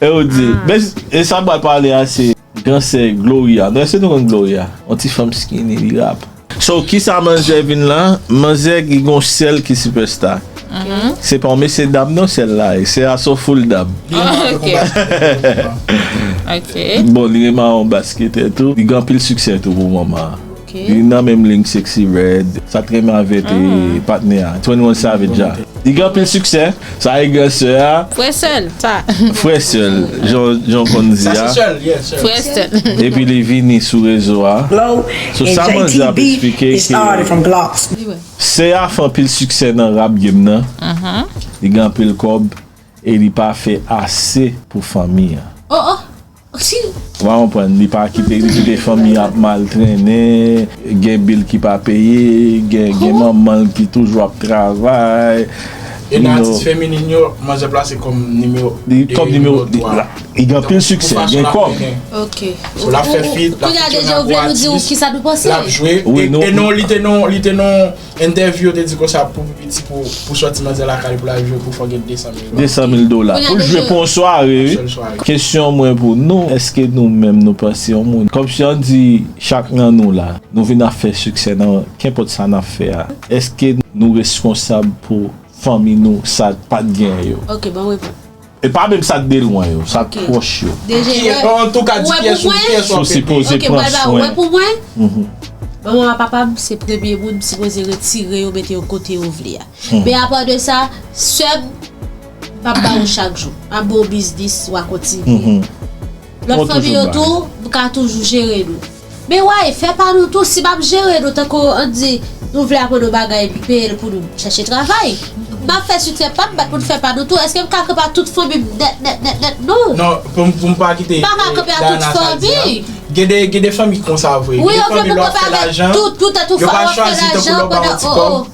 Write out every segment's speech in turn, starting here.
Ew di, men e sa pral pale a se gran sè Gloria, nou eske nou konn Gloria? Yon ti fanm skinny li rap. So kisa manzè vin la, manzè ki gon sèl ki sipèsta. Se pa yon mesye dam non sèl la ye, sè a son full dam. Bon li reman yon basketè tou, li gen anpil siksè tou pou moman an. Li nan menm ling sexy red. Sa trè mave te patnè a 21 savage a. Li gen anpil siksè. Sa e gè sè a. Frè sè l sa. Frè sè l jan w konn di a. Frè sè l. Epi li vini sou rezo a. Sou sa manzè ap esplike ke. Sè a fè anpil siksè nan rap game nan. Li gen anpil kòb e li pa fè ase pou fanmi an. Ou pa konprann, li pa kite, li kite fanmi ap mal trennen, gen bil ki pa peye, gen manman l ki toujou ap travay. Youn nan atis feminin yo, manzè plase kòm nimewo 2, nimewo 3. Li gen anpil siksè, gen kòb. Sou l ap fè fit, l ap fè ti yon nan gwa atis, l ap jwe. E non, li te nan, li te nan. Entèvyou yo te di konsa pou pi piti pou sòti manzè lakay pou l al jwe pou fò gen 200 mil dola. 200 mil dola. Pou l jwe pou yon sware wi. Yon sèl sware. Kesyon mwen pou nou, èske nou menm nou panse yon moun, kòmsi an di chak nan nou la, nou vin ap fè siksè nan kenpòt sa n ap fè a, èske nou reskonsab pou fanmi nou sa n pat gen yo? Ok, banm reponn. E pa menm sak de lwen yo, sak pwòch yo. Antouka di pyès ou pyès wap ede. Wè pou mwen, manman a papa m se premye moun m sipoze retire yo mete yo kote yo vle a. Men apa de sa, sè m, m pap ba ou chak jou. M ap ba ou biznis, wa kontinye. Lòt fanmi yo tou ka toujou jere nou. Men way, fè pa nou tou, si m ap jere nou tankou ann di nou vle aprann yon bagay epi peye n pou nou chèche travay. M ap fè siksè pa m bat pou n fè pa nou tou. Èske m ka kanpe ak tout fanmi m nèt nèt nèt nèt? Non. Non, pou m pa kite Dayana sa di an. Gen de fanmi ki konsa vre. Gen de fanmi lè w ap fè lajan, yo pa chwazi tankou lè w ba yo ti kòb.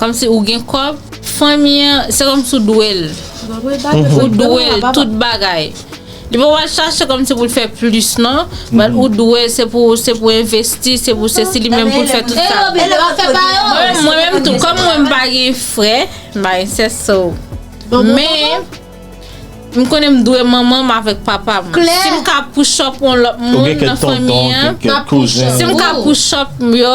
Kòmsi ou gen kòb, fanmi an, se kòmsi ou dwe l. Ou dwe l tout bagay. Li pa pou al chache kòmsi pou l fè plis non. But ou dwe l, se pou ou, se pou envesti, se pou sesi, li menm pou l fè tout sa. Mwen menm tou, kòm mwen m pa gen frè, m pa gen sè so. Men, m konnen m dwe manman m avèk papa m. Si m ka push up yon lòt moun nan fanmi an, si m ka push up yo.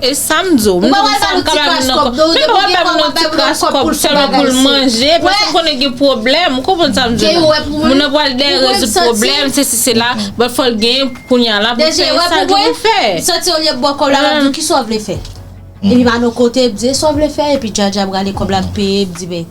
E sam di w, m di sam ka bay moun nan kòb, men m pa bay moun nan ti kras kòb sèlman pou l manje, paske m konnen gen pwoblèm, ou konprann sa m di w la, moun nan pral dèyè rezoud pwoblèm, sesi sela, bat fò l gen kounya la pou l fè sa l gen pou l fè. Deje wè pou mwen, m santi olye ba w kòb la l ap di w kisa w vle fè, epi m al yon kote, m di e sa w vle fè, epi djadja pral e kòb la ap peye, m di men.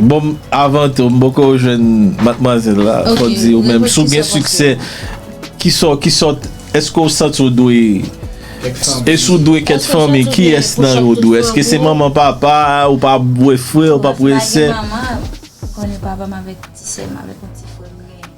Bon m avan tou m poko jwenn matmwazèl la fò di ou menm si w gen siksè kisa w kisa w èske w santi w dwe e si w dwe kèt fanmi kiyès nan yo w dwe èske se manman papa ou pa wè frè ou pap wè sè. Bon m pa gen manman m konnen papa m avèk ti sè m avèk yon ti frè m genyen.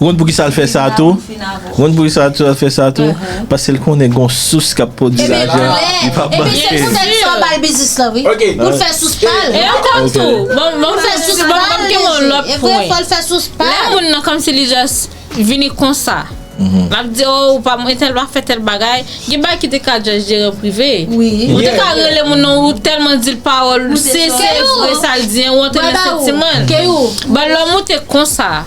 Ron poukisa l fè sa tou? Ron poukisa l fè sa tou? Pase l konnen gon sous k ap pwodui lajan li p ap manke. Ebyen se poutèt sa w ba l biznis lan wi. Pou l fè sous pa l. E ankò tou, m ap fè sous pa l deje. E vre fò l fè sous pa l. Lè moun nan kòmsi li jòs vini konsa. L ap di o ou pa mwen entèl pa fè tèl bagay. Gen bagay ki te ka jòs jere prive. Ou te ka rele moun nan ou tèlman di l pawòl se vre sa l di an ou antre nan santiman l. Keyou. Ban lòm ou te konsa.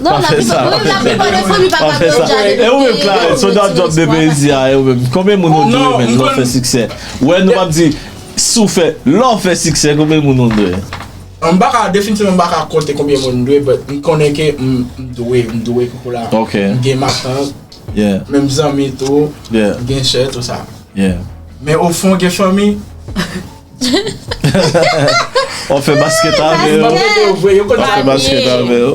Non, la pi pa, oui, la pi pa de fanmi pa ka konn jade depi. E ou menm Clarens, sou dat job de pwezi a, e ou menm, konbyen moun ou dwe menm lè w fè siksè? Wè nou pap di, si w fè, lè w fè siksè konbyen moun ou dwe? M pa ka, definitivman m pa ka konte konbyen moun m dwe, but m konnen ke m dwe, m dwe koukou la. Ok. M gen matant. Yeah. Men m zanmi tou. Yeah. M gen chè, tou sa. Yeah. Men ofon gen fanmi. Wap fè basket avè yo. Wap fè basket avè yo.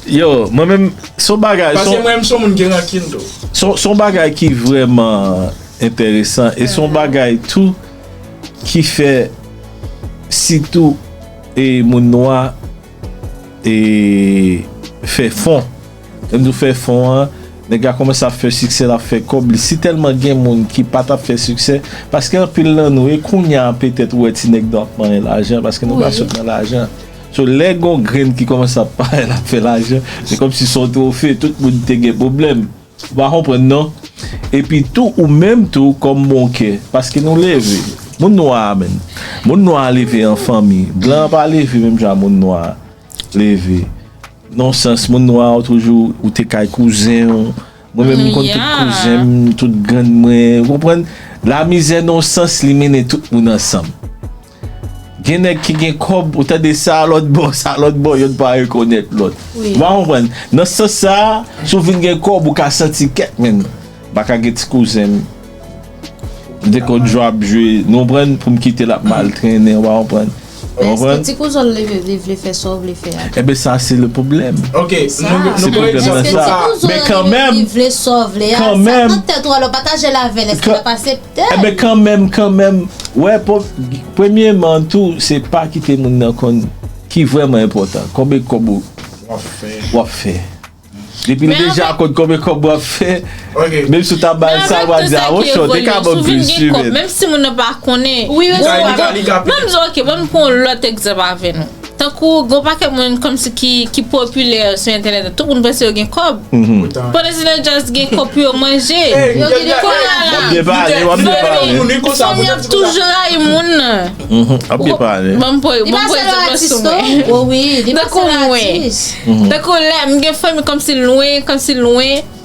Yo, mwen menm, son bagay. Pase mwen menm son moun gen rankin tou. Son bagay ki vreman enteresan. E son bagay tou ki fè sitou e moun nwa. e fè fon lèm di w fè fon an nèg la kòmanse ap fè siksè lap fè kòb li si tèlman gen moun ki pa tap fè siksè paske anpil nan nou e kounya petèt ou wè ti nèg nou ap manyen lajan paske nou pa sot nan lajan so lè gon grenn ki kòmanse ap parèt lap fè lajan se kòmsi son twofe tout moun te gen pwoblèm. Ou pa konprann non. Epi tou ou menm tou kòm bon kè. Paske nou leve. Moun nwa a menm. Moun nwa a leve an fanmi. Blan an pa leve menm jan moun nwa a leve. Non sans moun nwa ou toujou ou te kay kouzen ou. Mwen menm m konn tout kouzen m, tout grann mwen. Ou konprann? Lamizè non sans li mennen tout moun ansanm. Gen nèg ki gen kòb, ou tande sa a lòt bò, sa a lòt bò, yonn pa rekonèt lòt. Ou pa konprann? Nan sans sa a, si w fin gen kòb, ou ka santi kèk men nou. M pa ka gen ti kouzen m. M te konn jwe ap jwe, nou konprann, pou m kite l ap mal trennen, ou pa konprann. Ou konprann? Èske ti kouzen w leve li vle fè sa w vle fè a tou? Enben sa a se le pwoblèm. Ok, nou pran egzanp nan sa a. Èske ti kouzen w leve li vle sa w vle a? Sa k nan tèt ou a lè w pataje l avè l, èske l ap asepte? Enben kanmenm kanmenm wè premyeman tou se pa kite moun nan konn ki vrèman enpòtan konbe kòb ou wap fè depi li deja konn konbe kòb wap fè menm si ou ta bal sa ou a di a wonchon ou te ka banm plis wi menn. Menm si moun nan pa konnen. Wi menm si ou pa konnen. Banm di ok banm pran yon lòt egzanp avè nou. Tankou gen yon pakèt moun kòmsi ki popilè sou entènèt la, tout moun panse yo gen kòb. Pandan Zilè Jazz gen kòb pou yo manje. Wap byen pale, wap byen pale. Fanm yo ap toujou rayi moun nan. Wap byen pale. Banm pran egzanp sou mwen. Tankou mwen, tankou lè m gen fanmi kòmsi lwen, kòmsi lwen.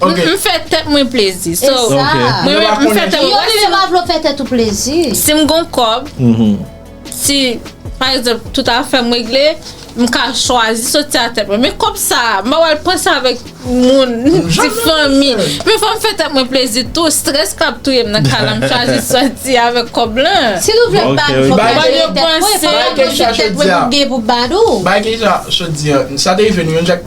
Ok. M fè tèt mwen plezi. E So, sa. Ok. mwen Yo pa menm, m fè konnen tèt sa. Yo menm yo pa vle w fè tèt ou plezi. Si m gon kòb, si pa egzanp tout afè m regle, m ka chwazi soti a tèt mwen. Men kòb sa, m pa pral panse avèk moun, ti fanmi. Men fò m fè tèt mwen plezi tou. Strès k ap touye m nan kay la, m chwazi soti avèk kòb lan. Si nou vle bad, Ok, fò ok. bad yo Yo panse. panse. Fò bad yo di tèt mwen pou byen pou bad ou. Bay Keïsha, Sot di an, sa te rive nou yon jak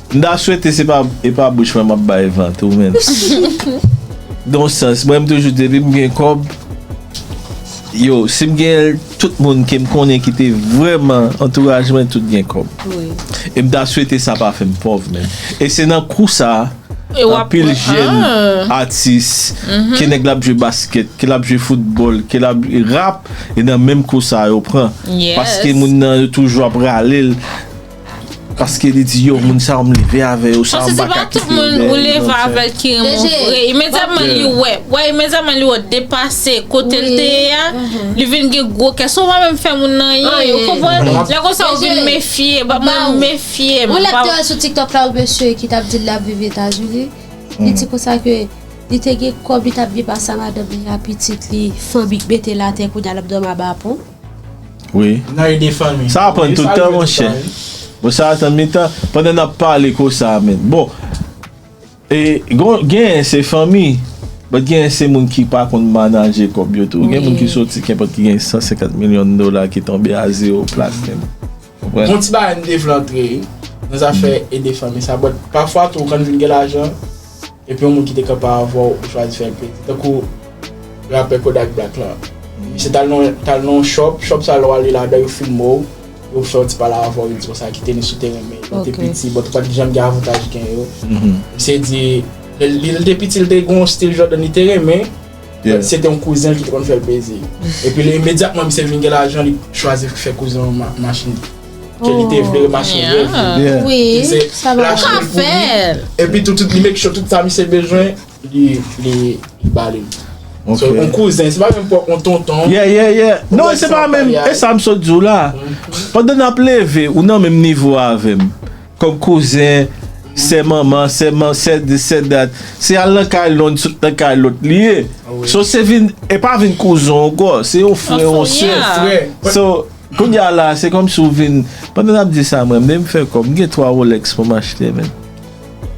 M ta swete se pa e pa bouch mwen map bay vant ou menm. Gen yon sans mwen m toujou depim gen kòb yo sim genyenl tout moun kem konnen ki te vrèman antouraj mwen tout gen kòb e m ta swete sa pa fèm pòv menm e se nan kou sa anpil jèn atis ke nèg la ap jwe baskèt ke lap jwe foutbòl ke lap rap e nan menm kou sa yo pran paske moun nan yo toujou ap ralel. Paske li di yo moun sa yo m leve avè yo sa yo m pa ka kite yo deyè. Paske se pa tout moun ou leve avè l ki renmen w vre. Imedyaman li wè, wè imedyaman li wè w depase kote l te ye a, li vin gen gwo kè. Sou pa menm fè moun anyen, ou konprann? Lè konsa ou vin mefye, ba mwen mefye m. Ou lè te wè sou tiktok la ou mesye ki tap di l lap viv etazini, li di konsa ke li te gen kòb li tap viv a sa madanm li a pitit li fanmi k mete l atè kounya lap dòmi aba pon. Wi. Nan ede fanmi. Sa pran tout tan monchè. Bon sa tan mi tan. Pandan nap pale kosa men. Bon. E gon gen se fanmi. Bon gen se moun ki pa konn manaje kob yo tou. Gen moun ki soti kenpot ki gen 150 milyon dola ki tonbe a zero plat menm. Bon ti bagay m te vle antre nan zafè ede fanmi sa but pafwa tou kan nou vin gen lajan epi yon moun ki te kanpe avèw ou chwazi fèl pete tankou rapè Kodak Black lan misye tal nan yon shop, shop sa lè w ale ladan yo filme w yo fè yon ti pale avèw yo di w sa ki te ni sou teren men lè w te piti but ou pat janm gen avantaj gen yo misye di lè l te piti l te gen yon stil Jordan li te renmen. Pierre. Se te yon kouzen l ki te konn fè l plezi. Epi li imedyatman misye vin gen lajan li chwazi fè kouzen l machin ke li te vle, machin rèv li. Wi, sa va. Ou ka fè l. Epi tou li make sure tout sa misye bezwen li ba li. Ok. So yon kouzen, se pa menm pwòp yon tonton. Yeah, yeah, yeah. Non, se pa menm, e sa m sot di w la. Pandan n ap leve, ou nan menm nivo avè m. Kòm kouzen, sè manman, sè man, sè dis, sè dat. Se al nan kay lon, sot nan kay lòt li ye. So se vin, e pa vin kouzen w ankò. Se yon frè, yon sè. Yon frè. So, kounye a la, se kòmsi w vin, pandan n ap di sa m renmn, m fè kòb, m gen 3 Rolex pou m achte menn.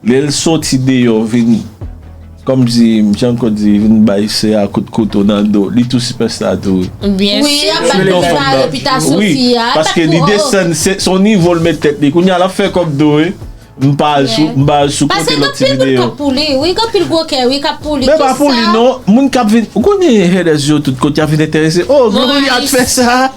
Lè l soti deyò vin kòmsi Jean Claude di vin bay sè a kout kouto nan do li tou sipèsta tou wi. Byen si. Wi se yon fanm nan wi paske li desann se yon nivo l met tèt li kounya l ap fè kòb tou wi m pa al sou m pa al sou kote lòt ti videyo. Paske gen anpil moun k ap pou li wi gen anpil gwo kè wi k ap pou li. Men pa pou li non moun k ap vin ou konnen haters yo tout kote y ap vin enterese oh Gloria t fè sa.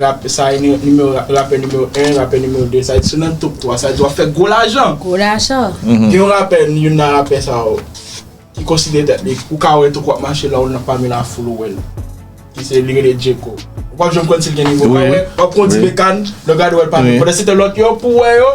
Rapè sa e nimewo rapè nimewo 1 rapè nimewo 2 sa e di sou nan top 3 sa e di wap fè gwo lajan. Gwo lajan. Gen yon rapè youn nan rapè sa yo ki konsidere tèt li ou ka wèl tankou wap mache lè ou nan pami la foul ou wèl ki se li rele Djeko ou pap janm konn sil gen nivo ou pa wè wap pran yon ti bekàn lè ou gade wèl pami pandan se tan lòt yo pou wè yo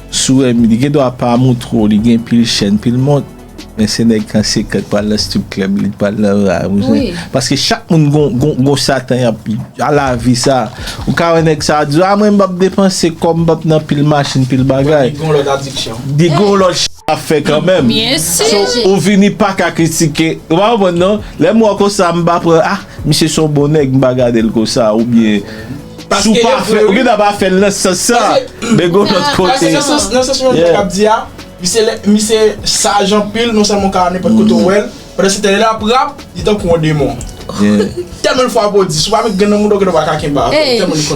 Suremy li gen dwa pa amour twò li gen pil chèn pil mont men se nèg kansekant pral nan strip club li t pral nan ra ou zen paske chak moun gon gon satan yap a lavi sa ou ka wè nèg sa di a mwen m pap depanse kòm m pap nan pil machin pil bagay li gon lòt adiksyon li gon lòt ch lap fè kanmèm so ou vini paka kritike ou pa konprann non lèm wè w konsa m pa pran ah misye son bon nèg m pa gadel konsa oubyen. Si w pa fè, ou gen dwa pa fè l nan sans sa. Men gon lòt kote. Nan sans mwen menm ap di a, misye saj anpil, non sèlman w ka al nenpòt kote ou wè l, pandan se tan lè l ap rap, li tankou yon demon. Tèlman l fwa pwodis, ou pa menm gen nan mouda w gen dwa pa ka kenbe avè l, tèlman li konn.